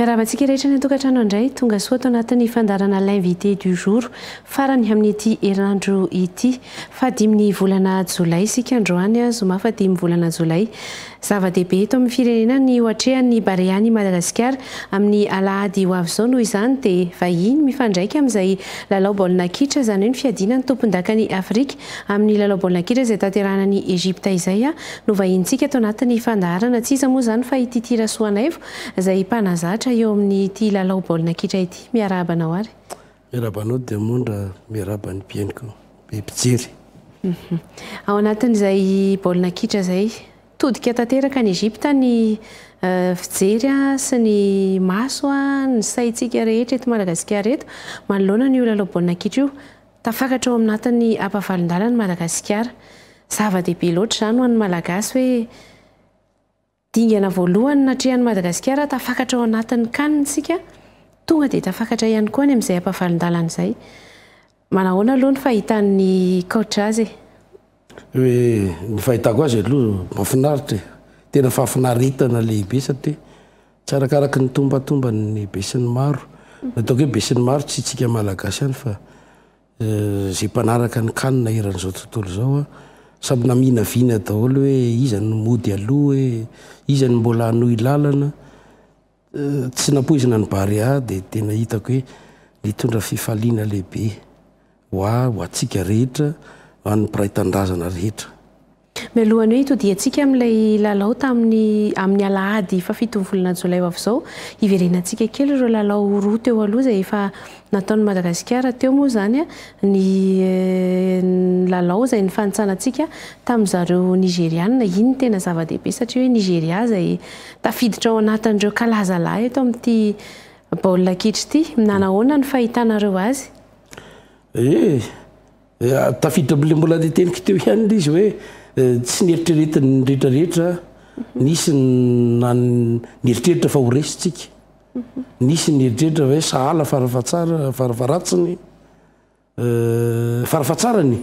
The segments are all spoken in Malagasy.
Miarahaba antsika rehetra any an-tokantrano indray. Tonga soa ato anatin'ny fandaharana L'invité du jour farany amin'ity herinandro ity. Fahadimin'ny volana jolay isika androany, zoma fahadimy volana jolay. Zava-dehibe eto amin'ny firenena ny hoatrehan'ny Barea an'i Madagasikara. Amin'ny alahady ho avy izao noho izany dia vahiny mifandraika amin'izay lalao baolina kitra, izany hoe ny fiadiana ny tompondakan'i Afrika Amin'ny lalao baolina kitra izay tanterahana any Egypta izay no vahinintsika ato anatin'ny fandaharana. Tsy iza moa izany fa i Titie Rasoanaivo izay mpanazatra eo amin'ity lalao baolina kitra ity. Miarahaba anao ary. Miarahaba anao Diamondra, miarahaba ny mpihaino koa, ny mpijery. Ao anatin'izay baolina kitra izay, todika tanteraka any Egypta ny fijery sy ny maso, ny saintsika rehetra eto Madagasikara eto manoloana an'io lalao baolina kitra io. Tafakatra ao amnatin'ny ampavalondala ny Madagasikara. Zava-dehibe loatra izany ho an'ny Malagasy hoe dingana voalohany natrehan'i Madagasikara tafakatra ao anatin'ny can isika, tonga dia tafakatra ihany koa any amin'izay ampavalondalana izay. Manahoana aloha ny fahitan'ny coach azy e? Hoe ny fahitako azy aloha mahafinaritra e, tena fahafinaretana lehibe satria tsy arakaraky ny tombantomban'ny besinimaro, ataoko hoe besinimaro tsy isika malagasy ihany fa izay mpanaraka ny kanina eran'izao tontolo izao an, samy naminavina daholo hoe iza no mody aloha hoe iza no mbola hanohy lalana. Tsy nampoizina ny Barea dia tena hitako hoe nitondra fifaliana lehibe ho ahy, ho antsika rehetra, ho an'ny mpiray tanindrazana rehetra. Mialohan'ny hoe hitodihantsika amin'ilay lalao tamin'ny amin'ny alahady fahafito ny volana jolay ho avy izao, hiverenantsika kely ireo lalao roa teo aloha izay efa nataon'i Madagasikara teo moa izany ny lalao izay nifanintsanantsika tamin'ny zareo Nigeriana, iny no tena zava-dehibe satria hoe Nigeria izay Tafiditra ao anatin'ireo kalazalahy eto amin'ity baolina kitra ity. Nanahoana ny fahitanareo azy? Eh, tafiditra amin'ilay mbola niteniko teo ihany ilay izy hoe tsy neritreretin'ny rehetrarehetra, nisy nieritreritra fa ho resintsika, nisy nieritreritra hoe sahala fara fahatsara, fara faharatsiny. Farafahatsarany,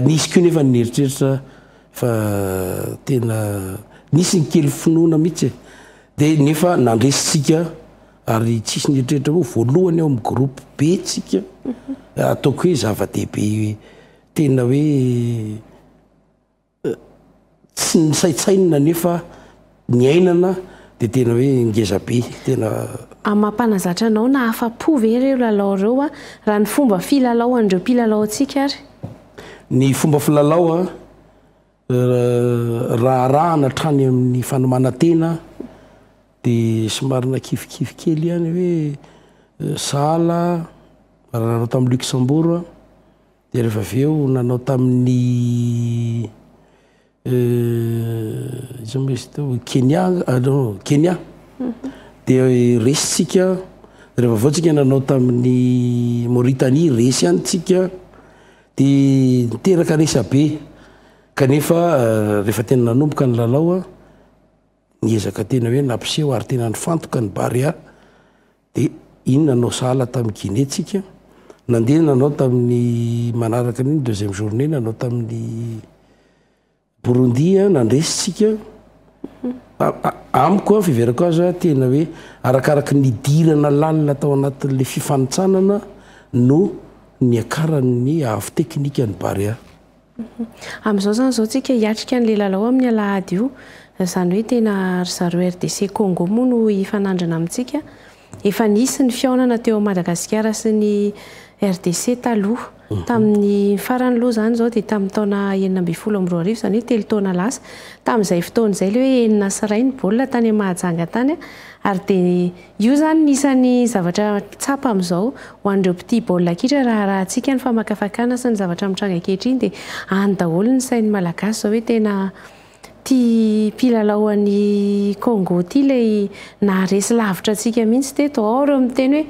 nisy koa nefa ny nieritreritra fa tena nisy ny kely finoana mihitsy e. Dia nefa nandresitsika ary tsisy nieritreritra hoe voalohany ao amin'ny groupe be tsika ataoko hoe zava-dehibe tena hoe Tsy nisaintsainina nefa niainana dia tena hoe ngeza be tena. A mampanazatra anao na afa-po ve ireo lalao ireo a raha ny fomba filalao an'ireo mpilalao antsika ary? Ny fomba filalao a raha arahana hatrany amin'ny fanomanan-tena dia somary nakivikivy kely ihany hoe sahala raha nanao tamin'i Luxembourg. Dia rehefa avy eo nanao tamin'ny iza moa izy teo? Kenya anga non Kenya dia resy tsika rehefa avy eo tsika nanao tamin'ny Mauritanie resy ihany tsika dia niteraka resabe kanefa rehefa tena nanomboka ny lalao niezaka tena hoe nampiseho ary tena nifantoka ny Barea Dia iny nanao sahala tamin'i Guinée tsika, nandeha nanao tamin'ny manaraka an'iny, deuxième journée, nanao tamin'ny Burundi, nandresy tsika. Amiko, fiheverako azy, tena hoe arakaraky ny hidirana lalina tao anatin'ilay fifanintsanana no niakaran'ny avo teknikan'ny Barea. Amin'izao izany izao tsika hiatrika an'ilay lalao amin'ny alahady io, izany hoe tena ry zareo RDC Congo moa no hifanandrina amintsika, efa nisy ny fihaonana teo Madagasikara sy ny RDC taloha, tamin'ny farany aloha izany izao dia tamin'ny taona enina ambin'ny folo amby roa arivo izany hoe telo taona lasa, tamin'izay fotoana izay ilay hoe enina sy iray ny baolina tany Mahajanga tany ary dia Io izany no isan'ny zavatra tsapa amin'izao ho an'ireo mpitia baolina kitra raha arahantsika ny famakafakana sy ny zavatra mitranga ankehitriny dia any daholo ny sain'ny Malagasy izao hoe tena tia mpilalao an'i Congo ity ilay naharesy lavitra antsika mihitsy teto ao ireo miteny hoe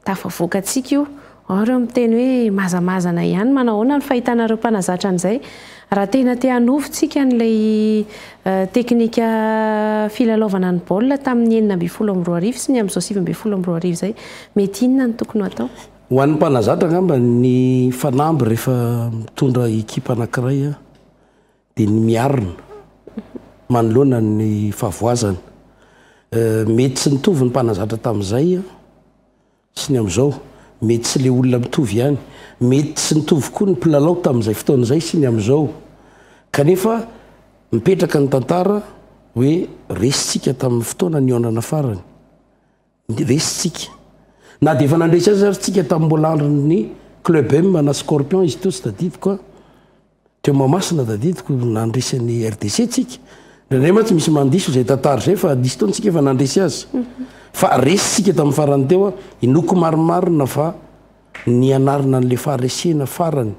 Tafavoaka antsika io. Ao ireo miteny hoe mazamazana ihany, manahoana ny fahitanareo mpanazatra an'izay? Raha tena te hanovo tsika an'ilay teknika filalaovana ny baolina tamin'ny enina ambin'ny folo amby roa arivo sy ny amin'izao sivy ambin'ny folo amby roa arivo izay, mety inona no tokony ho atao? Ho an'ny mpanazatra angamba ny fanamby rehefa mitondra ekipa anankiray dia ny miarina manoloana ny fahavoazana. Mety tsy nitovy ny mpanazatra tamin'izay sy ny amin'izao, mety tsy ilay olona mitovy ihany, mety tsy nitovy koa ny mpilalao tamin'izay fotoana izay sy ny amin'izao. Kanefa mipetraka ny tantara hoe resintsika tamin'ny fotoana nihaonana farany. Dia resy tsika. Na dia efa nandresy azy ary tsika tamin'ny mbola andron'ny Club M na Scorpion izy teo tsy tadidiko an. Teo Mahamasina tadidiko no nandresy an'i RDC tsika. Indraindray mantsy misy mandiso izay tantara izay fa nisy fotoana tsika efa nandresy azy. Mhm. Fa resy tsika tamin'ny farany teo an. Inoako marimarina fa nianarina an'ilay faharesena farany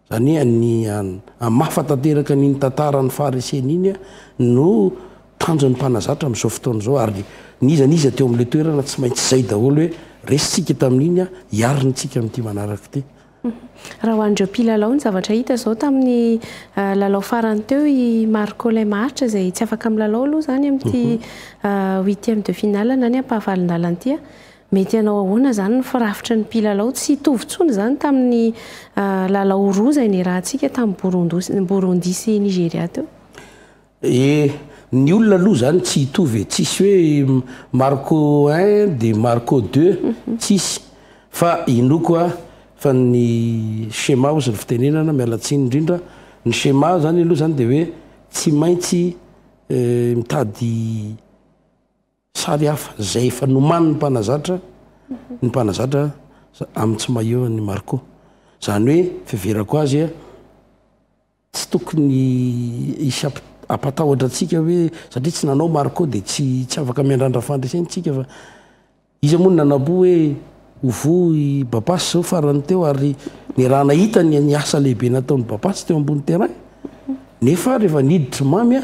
Anie ny an, hamafa tanteraka an' iny tantara ny Farisena iny no tanjon'ny mpanazatra amin'izao fotoana izao, ary n'iza n'iza teo amin'ilay toerana tsy maintsy izay daholo hoe, resintsika tamin'iny an, hiarina isika amin'ity manaraka ity. Raha ho an'ireo mpilalao, ny zavatra hita izao tamin'ny lalao farany teo, i Marco ilay maharitra izay tsy afaka milalao aloha izany amin'ity huitième de finale na ny ampahavalon-dalana ity an, Mety hanao ahoana izany ny firafitry ny mpilalao? Tsy hitovy intsony izany tamin'ny lalao roa izay niarahantsika tamin'i Burundi sy Nigeria teo. Eh, ny olona aloha izany tsy hitovy e! Tsisy hoe Marco un dia Marco deux, tsisy. Fa inoako aho fa ny schéma hozy ny fitenenana, miala tsiny indrindra, ny schéma izany aloha izany dia hoe tsy maintsy mitady, Sary hafa, izay efa nomanin'ny mpanazatra ny mpanazatra amin'ny tsy maillot an'i Marco. Izany hoe fiheverako azy, tsy tokony hisy hampatahotra antsika hoe satria tsy nanao Marco dia tsy tsy afaka miandrandra fandresena isika fa iza moa no nanampo hoe ho voa i Bapas izao farany teo ary niaraha nahita ny asa lehibe nataon'i Bapas teo ambony terrain. Nefa rehefa niditra i Mamy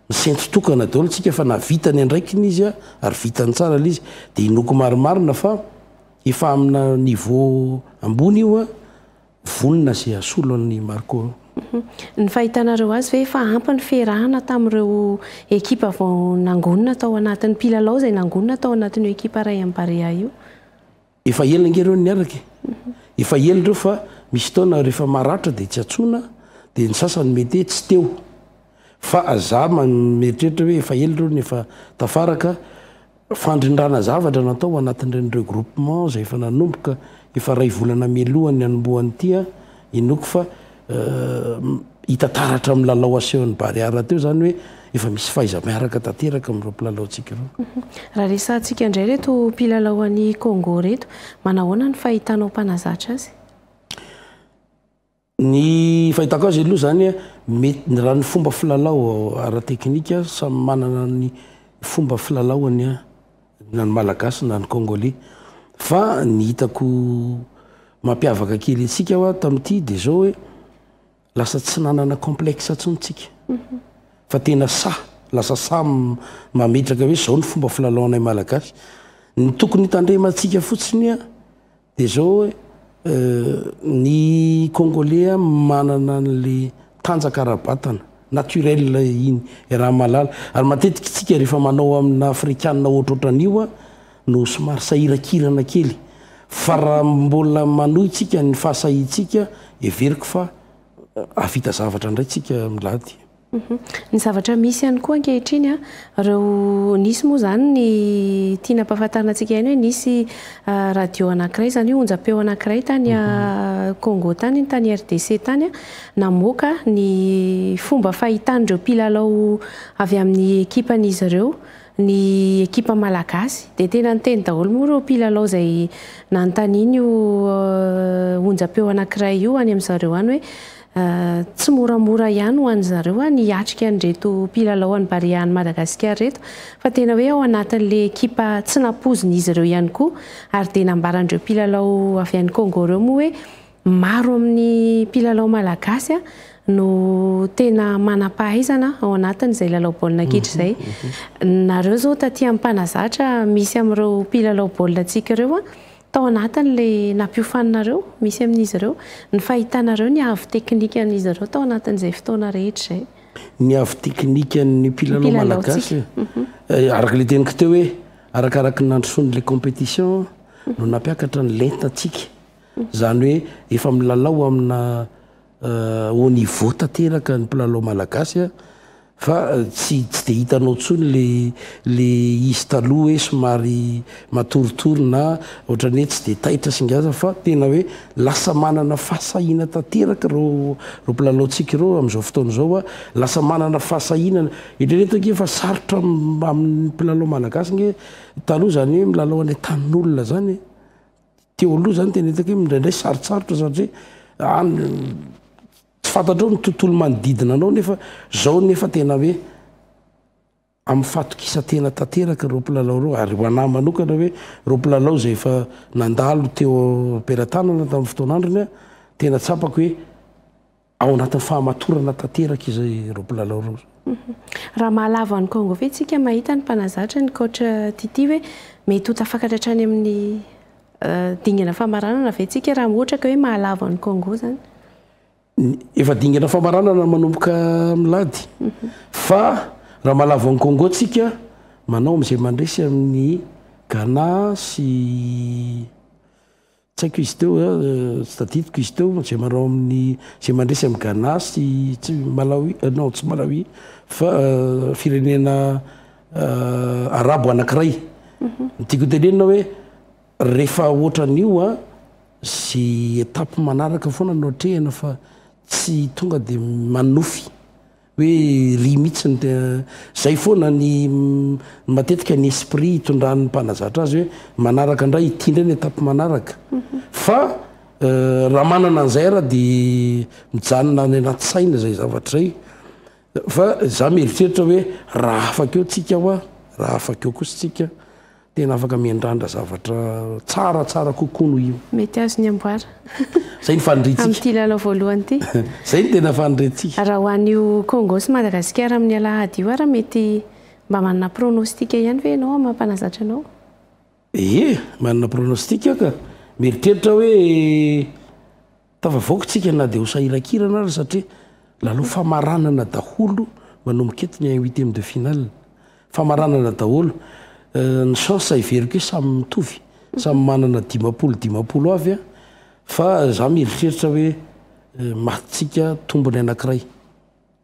Nisento tokana daholo tsika fa na vita ny andraikiny izy ary vitany tsara ilay izy dia inoako marimarina fa efa amina niveau ambony io vonona izay hasolo an'i Marco. Ny fahitanareo azy ve efa ampy ny fiarahana tamin'ireo ekipa vao nangonina tao anatiny, mpilalao izay nangonina tao anatin'io ekipa Rayon Barea io? Efa ela nge reo niaraka e. Efa ela reo fa misy taona refa maratra de tsy atsoina de ny sasany mety hoe tsy teo fa za mieritreritra hoe efa ela reo no efa tafaraka fandrindrana zavatra natao ho anatin'ireny reo groupement zay efa nanomboka efa ray volana mialohan'ny hanombohan'ity an. Inoako fa hita taratra amin'ny lalao asehon'ny Barea teo izany hoe efa misy fahaiza-miaraka tanteraka amin'ireo mpilalaontsika ireo. Raha resahantsika indray ireto mpilalao any Congo ireto, manahoana ny fahitanao mpanazatra azy? Ny fahitako azy aloha izany, mety raha ny fomba filalao ara-teknika, samy manana ny fomba filalaohany. na ny Malagasy na ny Kôngôley. Fa ny hitako mampiavaka kely antsika hoa tamin'ity dia zao hoe lasa tsy nanana complexe intsony tsika. Fa tena sahy, lasa sahy mametraka hoe zao ny fomba filalaonay Malagasy. Ny tokony hitandremantsika fotsiny hoa Dia zao e, ny Congolais manana an'le tanjaka ara-batana, naturel iny e raha mahalala. Ary matetika isika rehefa manao amina Afrikana ohatrohatran'io a, no somary sahirakirana kely. Fa raha mbola manohy tsika ny fahasahiantsika, heveriko fa hahavita zavatra indray tsika milady. Ny zavatra misy ihany koa ankehitriny an, ireo nisy moa izany ny tiana ampahafantarina antsika ihany hoe nisy radio anankiray izany hoe onjam-peo anankiray tany Congo tany iny, tany RDC tany an, namoaka ny fomba fahitan'ireo mpilalao avy amin'ny ekipan'izy ireo ny ekipa malagasy. Dia tena niteny daholo moa ireo mpilalao izay nanontaniana io onjam-peo anankiray io any amin'izareo any hoe Tsy moramora ihany ho an'ny zareo ny hiatrika an'ireto mpilalao an'i Barea any Madagasikara ireto fa tena hoe ao anatin'ilay ekipa tsy nampoizin'izy ireo ihany koa ary dia nambaran'ireo mpilalao avy any Congo ireo moa hoe maro amin'ny mpilalao malagasy no tena manam-pahaizana ao anatin'izay lalao baolina kitra izay. Nareo izao taty amin'ny mpanazatra misy amin'ireo mpilalao baolinantsika ireo Tao anatin'ilay nampiofaninareo, misy amin'izy ireo, ny fahitanareo ny avo teknikan'izy ireo tao anatin'izay fotoana rehetra izay? Ny avo teknikan'ny mpilalao malagasy? Araka ilay teniko teo hoe arakaraky ny nandrosoan'ilay compétition no nampiakatra ny lentantsika. Izany hoe efa milalao amina Au niveau tanteraka ny mpilalao malagasy fa tsy tsy dia hitanao intsony le le izy taloha hoe somary matoritory na ohatrany hoe tsy dia taitra sy ngeza fa tena hoe lasa manana fahasahiana tanteraka ireo ireo mpilalaontsika ireo amin'izao fotoana izao fa lasa manana fahasahiana. Eritrereto ange fa sarotra amin'ny mpilalao malagasy nge taloha izany hoe milalao any an-tanin'olona izany e! Teo aloha zany tena hitako hoe mindraindray sarotsarotra satria any tsy fantatrao ny tontolo manodidina anao nefa zao nefa tena hoe amin'ny fatokisantena tanteraka ireo mpilalao ireo ary ho anahy manokana hoe ireo mpilalao izay efa nandalo teo am-pelatanana tamin'ny fotoan'androny tena tsapako hoe Ao anatin'ny fahamatorana tanteraka izay ireo mpilalao ireo. Raha mahalavo an'i Congo ve isika mahita ny mpanazatra ny coach Tity hoe mety ho tafakatra hatrany amin'ny dingana famaranana ve isika raha ohatra ka hoe mahalavo an'i Congo izany? Efa dingana famaranana manomboka milady fa raha mahalavo an'i Congo isika manao amin'izay mandresy amin'ny Ghana sy Tsy haiko izy teo, tsy tadidiko izy teo, izay manao amin'ny, izay mandresy amin'i Ghana sy tsy Malawi, non tsy Malawi fa firenena arabo anankiray. Ny tiako hotenenina hoe rehefa ohatran'io a, izay étape manaraka foana no atrehina fa tsy tonga dia manonofy Hoe ry mitsy ny tena zay foana ny matetika ny esprit hitondran'ny mpanazatra azy hoe manaraka indray ity indray ny étape manaraka fa raha manana an'izay ara de mijanona any anaty saina zay zavatra zay fa za mieritreritra hoe raha afaka eo tsika hoa raha afaka eo kosa tsika Tena afaka miandrandra zavatra tsaratsara kokoa noho io. Mety azony amboara. Zay ny faniriantsika. Amin'ity lalao voalohany ity. Zay ny tena faniriantsika. Raha ho an'io Congo sy Madagasikara amin'ny alahady io ary mety mba manana pronostic ihany ve ianao amin'ny maha mpanazatra anao? Ie, manana pronostic aho ka. Mieritreritra hoe. Tafavoaka isika na dia ho sahirankirana ary satria lalao famaranana daholo manomboka eto ny huitième de finale. Famaranana daholo. Ny chance heveriko hoe samy mitovy, samy manana dimampolo dimampolo avy fa za mieritreritra hoe matintsika tombony anankiray.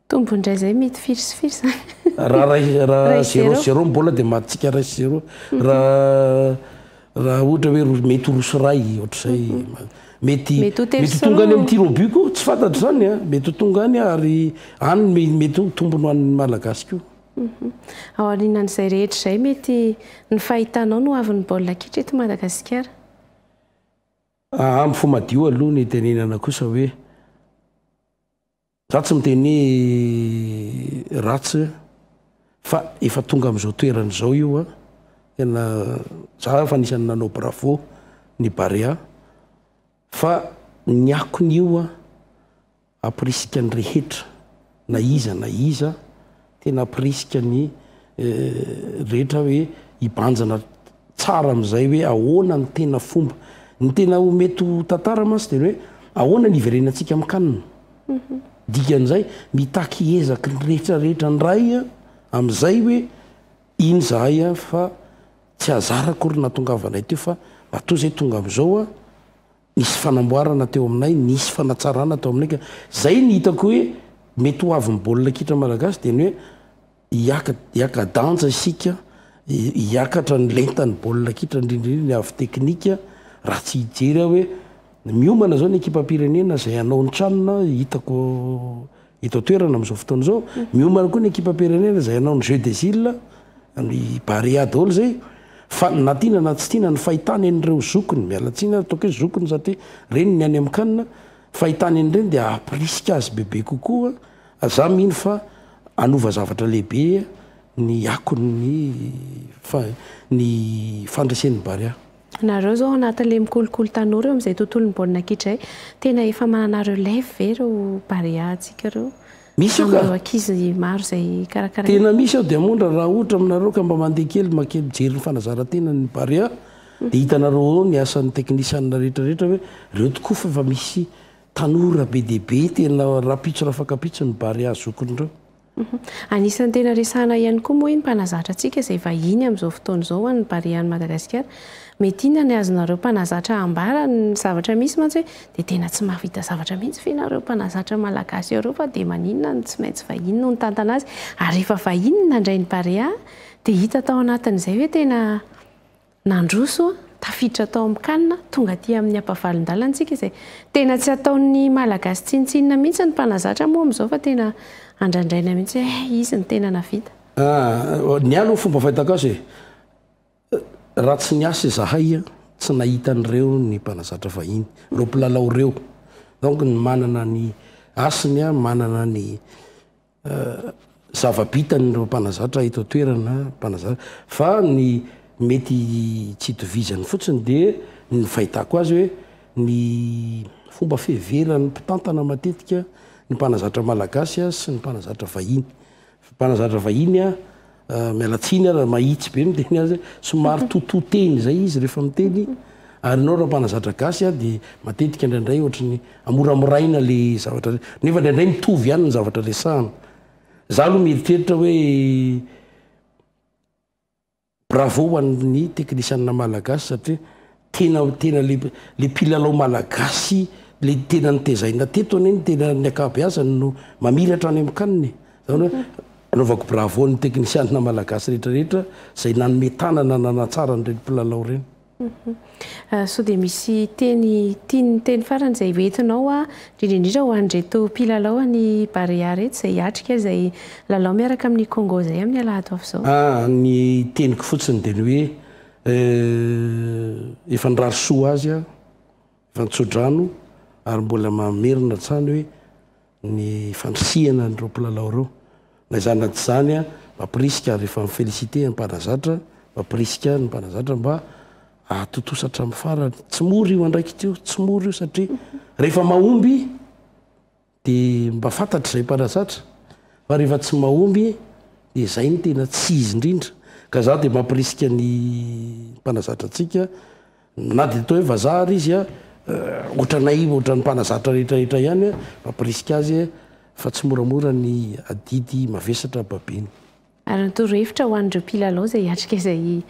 Tombo indray zay mety firy sy firy zany? Raha ray raha zero zero ny bola de matintsika ray sy zero raha raha ohatra hoe roa mety ho roa sy ray ohatr'izay mety mety ho tonga any amin'ny tir au but koa tsy fantatro zany a mety ho tonga any ary any me- mety ho tombony ho an'ny malagasy koa Ao aorianan'izay rehetra izay mety ny fahitanao no avin'ny baolina kitra eto Madagasikara? Ampy fo madio aloha ny itenenana kosa hoe. Za tsy miteny hoe ratsy fa efa tonga amzao toerana zao io a, tena za efa anisany nanao bravo ny Barea fa ny akony io a, aprisika ny rehetra na iza na iza, Tena ampirisika ny rehetra hoe hibanjina tsara amin'izay hoe ahoana ny tena fomba. Ny tena ho mety ho tantara mantsy dia ny hoe ahoana ny hiverenantsika amin-kanina. Mhm. Dikan'izay mitaky ezaky ny rehetrarehetra indray amin'izay hoe iny zahay fa tsy hazara akory nahatongavanay teo fa matoa izay tonga amin'izao a. Nisy fanamboarana teo aminay, nisy fanatsarana tao aminay ka zay ny hitako hoe mety ho avin'ny baolina kitra malagasy dia ny hoe hiaka hiaka danja isika, hiakatra ny lentan'ny baolina kitra indrindra indrindra ny avy teknika raha tsy hijery aho hoe miomana izao ny ekipam-pirenena izay hanao ny tranony hitako eto an-toerana amin'izao fotoana izao. Miomana koa ny ekipam-pirenena izay hanao ny Jeux des Îles any Barea daholo izay fa na tiana na tsy tiana ny fahitana an'ireo zokiny, miala tsiny ary ataoko hoe zokiny satria reny ny any amin'ny CAN, fahitana an'ireny dia hampirisika azy bebe kokoa, za mino fa hanova zavatra lehibe ny akon'ny ny fandresen'ny Barea. Nareo zao anatin le mikolokolo tanora eo amzay tontolony baolina kitra zay tena efa manana relève ve reo barea tsika reo Misy io ka. amreo akizy maro zay karakaraina? Tena misy ao diamondra raha ohatra aminareo ka mba mandeha kely makely mijery ny fanazarantenan ny barea dia hitanareo ao ny asan ny teknisianina rehetra rehetra hoe reo tokoa fa efa misy tanora be dia be tena rapitso rafakapitso ny barea zokiny reo. Anisan'ny tena resahana ihany koa moa iny mpanazatra antsika izay vahiny amin'izao fotoana izao ho an'ny Barea an'i Madagasikara. Mety inona ny azonareo mpanazatra ambara ny zavatra misy mantsy hoe dia tena tsy mahavita zavatra mihitsy ve nareo mpanazatra malagasy areo fa dia maninona no tsy maintsy vahiny no nitantana azy ary rehefa vahiny no nandray ny Barea dia hita tao anatin'izay hoe tena Nandroso, tafiditra tao amin'ny Can, tonga aty amin'ny ampavalon-dalantsika izay tena tsy ataon'ny Malagasy tsinontsinona mihitsy ny mpanazatra moa amin'izao fa tena andrandraina mihitsy hoe hay izy no tena navita. Ny ahy aloha fomba fahitako azy e, raha tsy niasa izahay a, tsy nahita an'ireo ny mpanazatra vahiny, ireo mpilalao ireo. Donc ny manana ny hasiny a, manana ny. Zava-bitan' ireo mpanazatra eto an-toerana mpanazatra fa ny mety tsy itovizany fotsiny dia ny fahitako azy hoe ny fomba fiheveran'ny mpitantana matetika ny mpanazatra malagasy sy ny mpanazatra vahiny. Mpanazatra vahiny Miala tsiny ara mahitsy be miteny azy, somary totoa-teny izay izy rehefa miteny, ary ianao raha mpanazatra gasy a dia matetika indraindray ohatry ny amoramoraina le zavatra re, nefa indraindray mitovy ihany ny zavatra resahana. Za aloha mieritreritra hoe bravo ho an'ny teknisianina malagasy satria. Tena tena le le mpilalao malagasy le tena notezaina teto anie ny tena ny ankabeazany no mamiratra any amin'ny CAN e. Zany hoe anaovako bravo ny teknisianina malagasy rehetra rehetra zay nanome tanana nanatsara an'ireny mpilalao ireny. Sao dia misy teny tian'ny teny farany zay ho entinao hoa indrindra indrindra ho an'ireto mpilalao an'i Barea reto zay hiatrika izay lalao miaraka amin'i Congo zay amin'ny alahady ho avy zao? Ah ny teniko fotsiny dia ny hoe Eh, efa nirary soa azy aho, efa nitsodrano ary mbola mamerina hatrany hoe ny fandrisihana an'ireo mpilalao ireo. Na izany na tsy izany, mampirisika ary efa mi-féliciter ny mpanazatra, mampirisika ny mpanazatra mba hahatontosa hatramin'ny farany. Tsy mora io andraikitra io, tsy mora io satria rehefa mahomby Dia mba fantatry izay mpanazatra fa rehefa tsy mahomby dia izay no tena tsy izy indrindra. Ka za dia mampirisika ny mpanazatra antsika na dia toa hoe vazaha ary izy ohatranay ohatran'ny mpanazatra rehetrarehetra ihany mampirisika azy fa tsy moramora ny adidy mavesatra babeny. Ary ny torohevitra ho an'ireo mpilalao izay hiatrika izay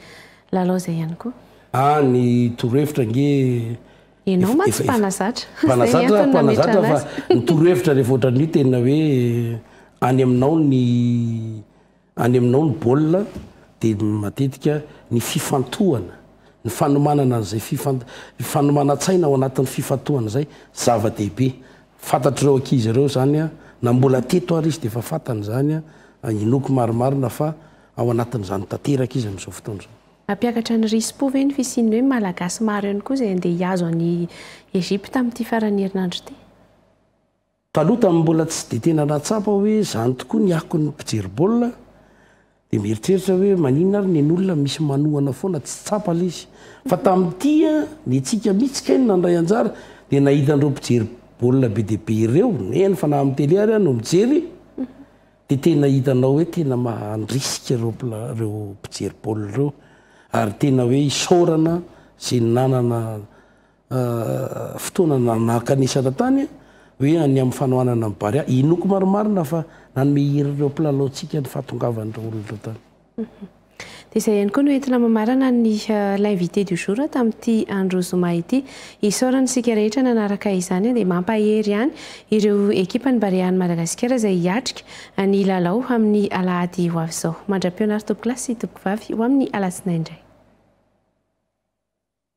lalao izay ihany koa? Ah, ny torohevitra ange efa, Ianao mantsy mpanazatra. Mpanazatra aho, mpanazatra aho fa ny torohevitra rehefa ohatran'ny hoe tena hoe any aminao ny any aminao ny baolina dia matetika ny fifantohana, ny fanomanana an'izay fifan- fanomanan-tsaina ao anatin'ny fifantohana izay zava-dehibe. Fantatr'ireo ankizy ireo izany na mbola teto ary izy dia efa fantany izany inoako marimarina fa ao anatin'izany tanteraka izy amin'izao fotoana izao. Hampiakatra ny risi-po ve ny fisian'ny hoe Malagasy maro ihany koa izay handeha hihazo an'i Egypta amin'ity faran'ny herinandro ity? Taloha tamin'ny mbola tsy dia tena nahatsapa hoe izany tokoa ny akon'ny mpijery baolina Dia mieritreritra hoe maninona ary ny an'olona misy manohana foana tsy tsapa le izy. Fa tamin'ity an, ny antsika mihitsy kay no nandray anjara dia nahita an'ireo mpijery baolina be dia be ireo, eny fa na amin'ny tele ary aho no mijery, dia tena hitanao hoe tena mandrisika ireo mpila ireo mpijery baolina ireo ary tena hoe isaorana izay nanana fotoana nakanisana tany hoe ny amin'ny fanohanana an'i Barea. Inoako marimarina fa nanome hery ireo mpilalaontsika ny fahatongavan'ireo olona ireo tany. Dia izay ihany koa no entina mamarana ny l'invité du jour tamin'ity andro zoma ity. Isaorana isika rehetra nanaraka izany dia mampahery ihany ireo ekipan'ny Barean'i Madagasikara izay hiatrika ny lalao amin'ny alahady ho avy izao. Mandra-pihaona ary tompokolahy sy tompokvavy ho amin'ny alatsinainy indray.